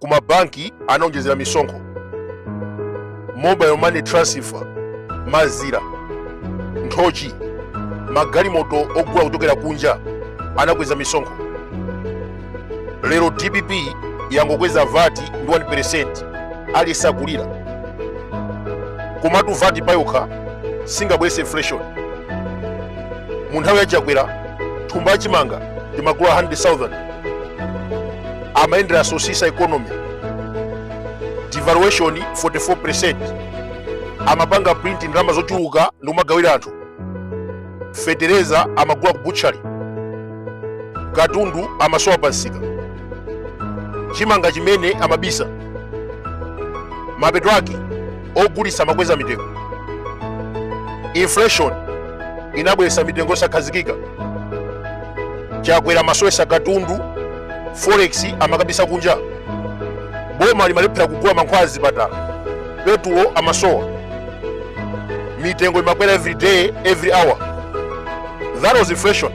ku mabanki anaonjezera misonkho mobile money transfer mazira nthochi magalimoto ogula kuchokera kunja anakweza misonkho lero dpp yangokweza vati ndi 1% aliyense akulira komatu vati payokha singabwese inflation mu nthawi ya chakwera thumba la chimanga timagula 100,000 amayendera sosisa economy devaluation 44% amapanga print ndalama zochuluka ndi kumagawira anthu fetereza amagula ku butchery katundu amasowa pa nsika chimanga chimene amabisa mapeto ake ogulitsa amakweza mitengo inflation inabweretsa mitengo yosakhazikika chakwera amasowetsa katundu forex amakabisa kunja boma limalephera kugula mankhwala azipatala petulo amasowa mitengo imakwera every day every hour that was inflation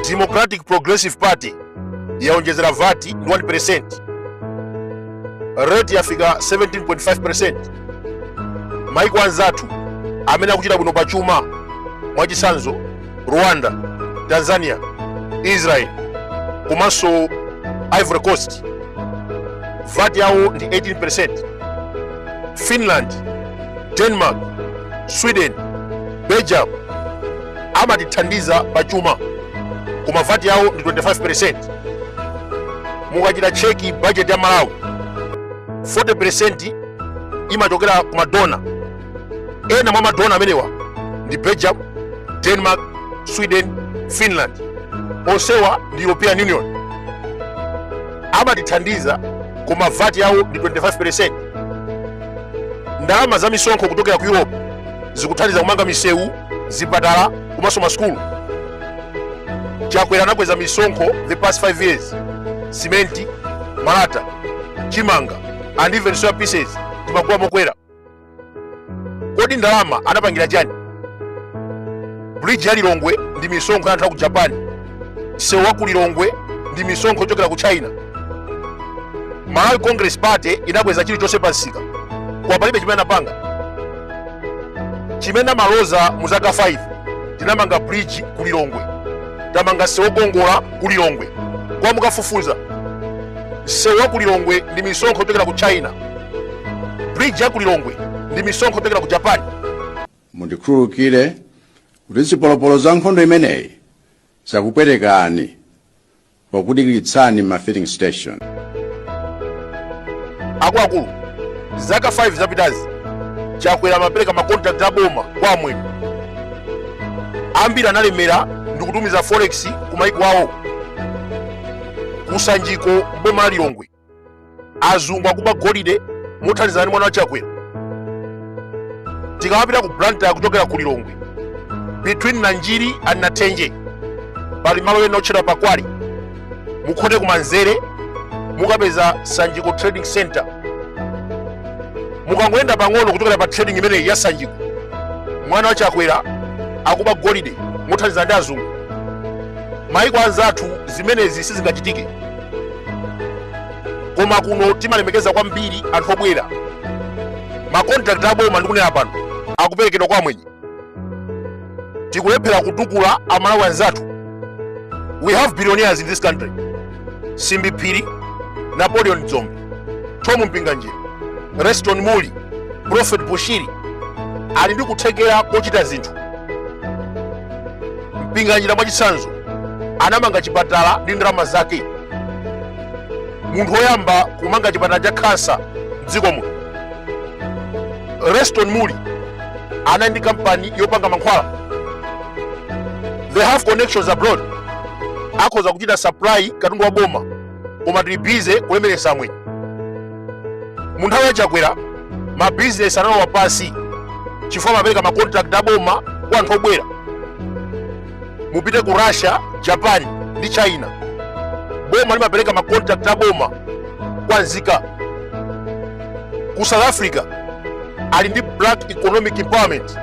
democratic progressive party yaonjezera vat ndi 1% rate yafika 17.5% maiko anzathu amene akuchita bwino pa chuma mwachitsanzo rwanda tanzania israel komanso ivory coast vat yawo ndi 18% finland denmark sweden Belgium amatithandiza pa chuma koma vati yawo ndi 25%. Mukachita cheki budget ya Malawi 40% imachokera ku madona. Ena mwa madona amenewa ndi Belgium, Denmark, Sweden, Finland. Onsewa ndi European Union amatithandiza koma vati yawo ndi 25%. Ndalama za misonkho kuchokera ku Europe zikuthandiza kumanga misewu zipatala komanso masukulu chakwera anakweza misonkho the past 5 years simenti malata chimanga and even soya pieces timagula mokwera kodi ndalama anapangira chani bridge ya lilongwe ndi misonkho ya anthu a ku japan msewu wa ku lilongwe ndi misonkho yochokera ku china malawi congress party inakweza chilichonse pa msika koma palibe chimene anapanga chimene amaloza mu zaka 5 tinamanga bridge ku lilongwe tamanga msewu wokongola ku lilongwe koma mukafufuza msewu wa ku lilongwe ndi misonkho yochokera ku china bridge ya ku lilongwe ndi misonkho yochokera ku japan Mundikhululukire kuti zipolopolo za nkhondo imeneyi zakupwetekani pokudikiritsani m'ma filling station. akuluakulu zaka 5 zapitazi chakwera amapereka makontrakt a boma kwa amwenye ambiri analemera ndi kutumiza forex ku maiko awo kusanjiko boma la lilongwe azungu akuba golide mothandizana ndi mwana wa chakwera tikamapita ku blantyre kuchokera ku lilongwe between nanjiri and nathenje pali malo ena otchedwa pakwali mukhote kumanzere mukapeza sanjiko trading center mukangoyenda pang'ono kuchokera pa trading imeneyi ya sanjiko mwana wa chakwera akuba golide mothandizana ndi azungu maiko anzathu zimenezi sizingachitike koma kuno timalemekeza kwambiri anthu obwera makontrakti aboma ndikunena pano akuperekedwa kwa amwenye tikulephera kutukula amalawi anzathu we have billionaires in this country simbi phiri napoleon dzombe thom mpinganjira leston muli prophet bushiri ali ndi kuthekera kochita zinthu mpinganjira mwachitsanzo anamanga chipatala ndi ndalama zake munthu woyamba kumanga chipatala cha khansa mdziko muno leston muli anali ndi kampani yopanga mankhwala they have connections abroad akhoza kuchita supply katundu wa boma koma tili bize kulemeretsa amwenye mu nthawi ya chakwera mabizinesi analowa pansi chifukwa amapereka makontrakt aboma kwa anthu obwera mupite ku russia japan ndi china boma limapereka makontrakt aboma kwa nzika ku south africa ali ndi black economic empowerment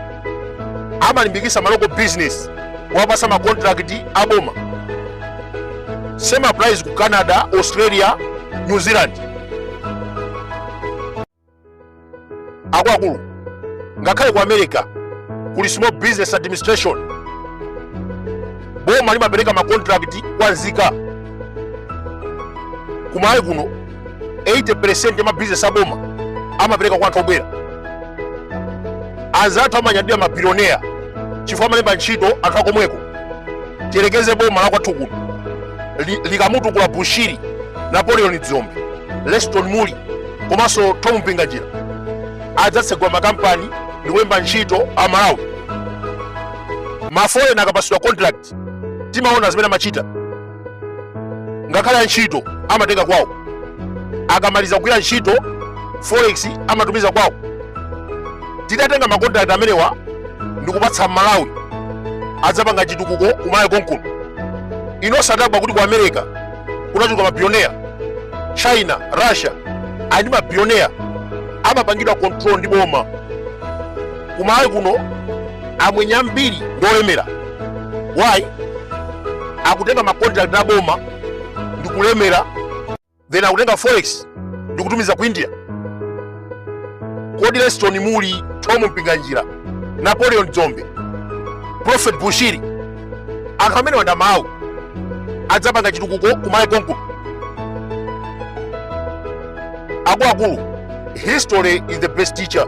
amalimbikisa ma local business kuwapasa macontract aboma same applies ku canada australia new zealand akuluakulu ngakhale ku america kuli small business administration boma limapereka macontract kwa nzika kumalawi kuno 80% ya mabizinesi aboma amapereka kwa anthu obwera anzathu amanyadira mabilionea chifukwa amalemba ntchito anthu akomweko tiyerekeze boma la kwathu kuno likamutukula bushiri napoleon dzombe leston muli komanso thom mpinganjira adzatsegula makampani ndi kulemba ntchito a malawi maforeigner akapatsidwa contract timaona zimene amachita ngakhale antchito amatenga kwawo akamaliza kugwira ntchito forex amatumiza kwawo titatenga makontrakt amenewa ndikupatsa amalawi adzapanga chitukuko kumalawi konkuno inu osadabwa kuti ku america kunachuluka mabillionaire china russia ali mabillionaire amapangidwa control ndi boma kumalawi kuno amwenye ambiri ndi olemera why akutenga ma contract a boma ndi kulemera then akutenga forex ndi kutumiza ku india kodi leston mulli thom mpinganjira napoleon dzombe prophet bushiri anthu amene wa nda amalawi adzapanga chitukuko kumalawi konkuno akuluakulu history is the best teacher